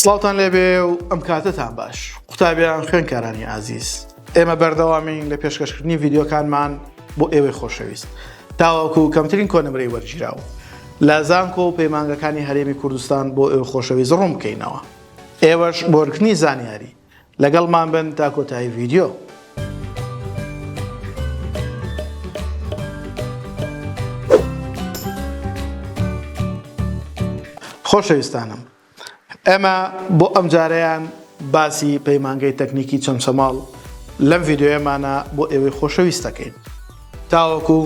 سڵاوتان لێبێ و ئەم کاتەتان باش قوتابیان خوێنکارانی ئازیز ئێمە بەردەوامین لە پێشکەشکردنی ڤیددیوکانمان بۆ ئێوەی خۆشەویست تاوەکو و کەمترین کۆنمرەی وەرگیراو لە زانکۆ و پەیمانگەکانی هەرێمی کوردستان بۆ ئێوە خۆشەویست ڕوون بکەینەوە ئێوەش بۆرکردنی زانیاری لەگەڵمان بن تا کۆتایی ڤیدیۆ. خۆشەویستانم ئێمە بۆ ئەم جارەیان باسی پەیمانگەی تەکنیکی چەمچەماڵ لەم ڤیددیوەمانە بۆ ئێوەی خۆشەویستەکەین تاوەکو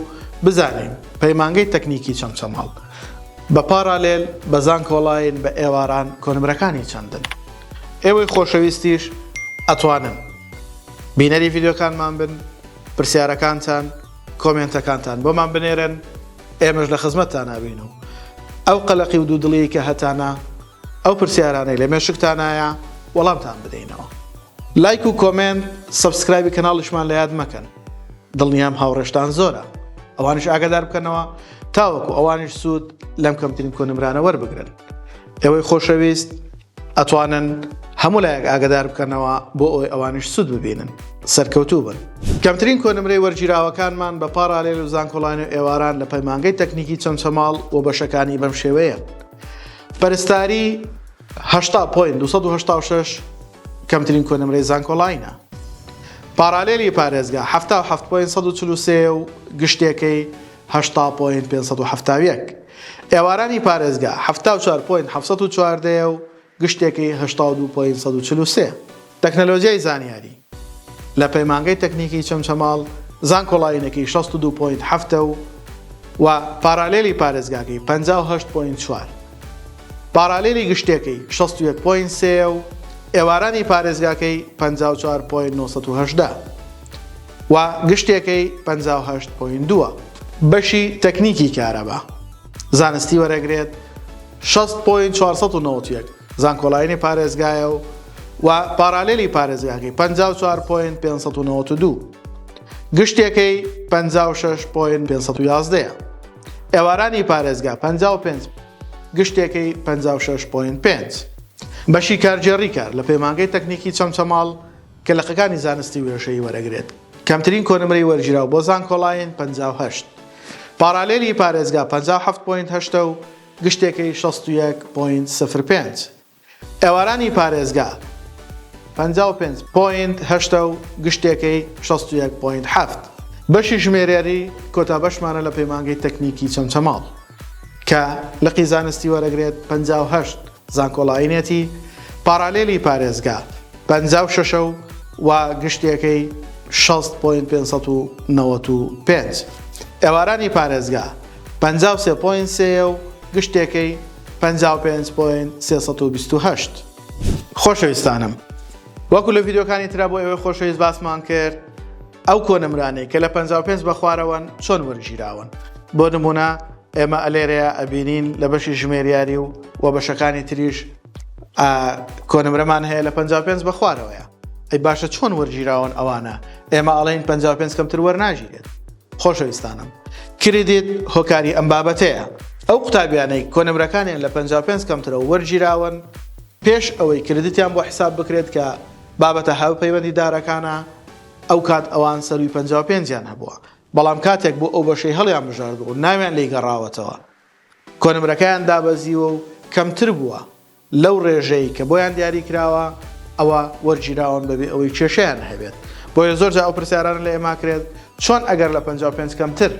بزانین پەیمانگەی تەکنیکی چەمچەماڵ بە پاڕالێل بە زانکۆڵاین بە ئێواران کۆنمرەکانی چەندن ئێوەی خۆشەویستیش ئەتوانن بینەری ڤیدیۆکانمان بن پرسیارەکانتان کۆمێنتەکانتان بۆمان بنێرن ئێمەش لە خزمەتتانابین و ئەو قەلەقی و دوودڵی کە هەتانە ئەو پرسیارانەی لە مێشکتانایە وەڵامتان بدەینەوە. لایک و کۆمێنت سەبسکرایبی کەناڵیشمان لە یاد مەکەن دڵنیام هاوڕێشتان زۆرە ئەوانش ئاگادار بکەنەوە تاوەکو ئەوانش سوود لەم کەمترین کۆنمرانە وەربگرن ئێوەی خۆشەویست ئەتوانن هەموو لایەک ئاگدار بکەنەوە بۆ ئەوی ئەوانش سوود ببینن سەرکەوتوو بن کەمترین کۆنمرەی وەرگیراوەکانمان بە پاراالێل و زانکۆڵانی و ئێواران لە پەیمانگەی تەکنیکی چەمچەماڵ و بەشەکانی بەم شێوەیە پەرستاری هەشتا پوین 1970 کەمترین کۆنمرەی زانکۆلاینە پارالێلی پارێزگا حەفتا و حەفت پۆین سەد و چل و سێ و گشتێکەی هەشتا پۆین پێنج سەد و حەفتا و یەک ئێوارانی پارێزگا حەفتا و چوار پۆین حەفت سەد و چواردەیە و گشتێکەی هەشتا و دوو پۆین سەد و چل و سێ تەکنەلۆجیای زانیاری لە پەیمانگەی تەکنیکی چەمچەماڵ زانکۆڵاینەکەی شەست و دوو پۆین حەفتە و و پارالێلی پارێزگاکەی پەنجا و هەشت پۆین چوار پارالێلی گشتێکەی شەست و یەک پۆینت سێ یە و ئێوارانی پارێزگاکەی پەنجا و چوار پۆینت نۆ سەد و هەژدە و گشتێکەی پەنجا و هەشت پۆینت دوو ە. بەشی تەکنیکی کارەبا زانستی وەرەگرێت شەست پۆینت چوار سەد و نەوەد و یەک زانکۆلاینی پارێزگایە و و پارالێلی پارێزگاکەی پەنجا و چوار پۆینت پێنج سەد و نەوەد و دوو گشتێکەی پەنجا و شەش پۆینت پێنج سەد و یازدە یە. ئێوارانی پارێزگا پەنجا و پێنج گشتێکەی پەنجا و شەش پۆینت پێنج. بەشی کارگێڕی کار لە پەیمانگەی تەکنیکی چەمچەماڵ کە لقەکانی زانستی وێشەیی وەرەگرێت کەمترین کۆنمرەی وەرگیراو بۆ زانکۆلاین پەنجا و هەشت. پارالیلی پارێزگا پەنجا و حەفت پۆینت هەشتە و گشتێکەی شەست و یەک پۆینت سفر پێنج. ئێوارانی پارێزگا پەنجا و پێنج پۆینت هەشتا و گشتێکەی شەست و یەک پۆینت حەفت. بەشی ژمێریاری کۆتا بەشمانە لە پەیمانگەی تەکنیکی چەمچەماڵ کە لقی زانستی وەرەگرێت پەنجا و هەشت زانکۆڵاینێتی پاڕالێلی پارێزگا پەنجا و شەش و گشتێکەی شەست پۆینت پێنج سەد و نەوەت و پێنج. ئێوارانی پارێزگا. پەنجا و سێ پۆینت سێیە و گشتێکەی پەنجا و پێنج پۆینت سێ سەد و بیست و هەشت. خۆشەویستانم وەکو لە ڤیدیۆکانی ترا بۆ ئێوەی خۆشەویست باسمان کرد ئەو کۆنمرانەی کە لە پەنجا و پێنج بە خوارەوەن چۆن وەرگیراون بۆ نمونە ئێمە ئەلێرەیە ئەبینین لە بەشی ژمێریاری و و بەشەکانی تریش کۆنمرەمان هەیە لە پەنجا و پێنج بە خوارەوەیە ئەی باشە چۆن وەرگیراون ئەوانە ئێمە ئەڵین پەنجا و پێنج کەمتر وەرناگیرێت خۆشەویستانم کریدیت هۆکاری ئەم بابەتەیە ئەو قوتابیانەی کۆنمرەکانیان لە پەنجا و پێنج کەمترەوە وەرگیراون پێش ئەوەی کریدیتیان بۆ حیساب بکرێت کە بابەتە هاوپەیوەندیدارەکانە ئەو کات ئەوان سەرووی پەنجا و پێنج یان هەبووە بەڵام کاتێک بۆ ئەو بەشەی هەڵیانبژاردووە و ناویان لێی گەڕاوەتەوە کۆنمرەکەیان دابەزیوە و کەمتر بووە لەو رێژەی کە بۆیان دیاری کراوە ئەوا وەرگیراون بەبێ ئەوەی کێشەیان هەبێت بۆیە زۆر جار ئەو پرسیارانە لە ئێما کرێت چۆن ئەگەر لە پەنجا و پێنج کەمتر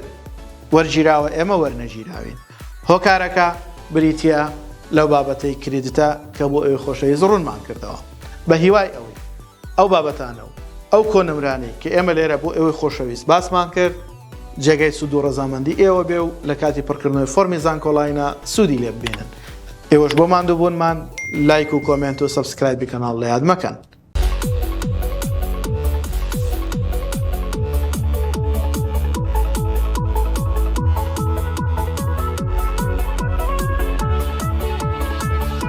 وەرگیراوە ئێمە وەرنەگیراوین هۆکارەکە بریتیە لەو بابەتەی کریدتە کە بۆ ئەوی خۆشەویست ڕوونمان کردەوە بە هیوای ئەوەی ئەو بابەتانە و ئەو کۆنمرانەی کە ئێمە لێرە بۆ ئێوەی خۆشەویست باسمان کرد، جێگای سوود و ڕەزامەندی ئێوە بێ و لە کاتی پڕکردنەوەی فۆرمی زانکۆڵاینە سوودی لێ ببینن. ئێوەش بۆ ماندووبوونمان لایک و کۆمێنت و سەبسکرایبی کەناڵ لە یاد مەکەن.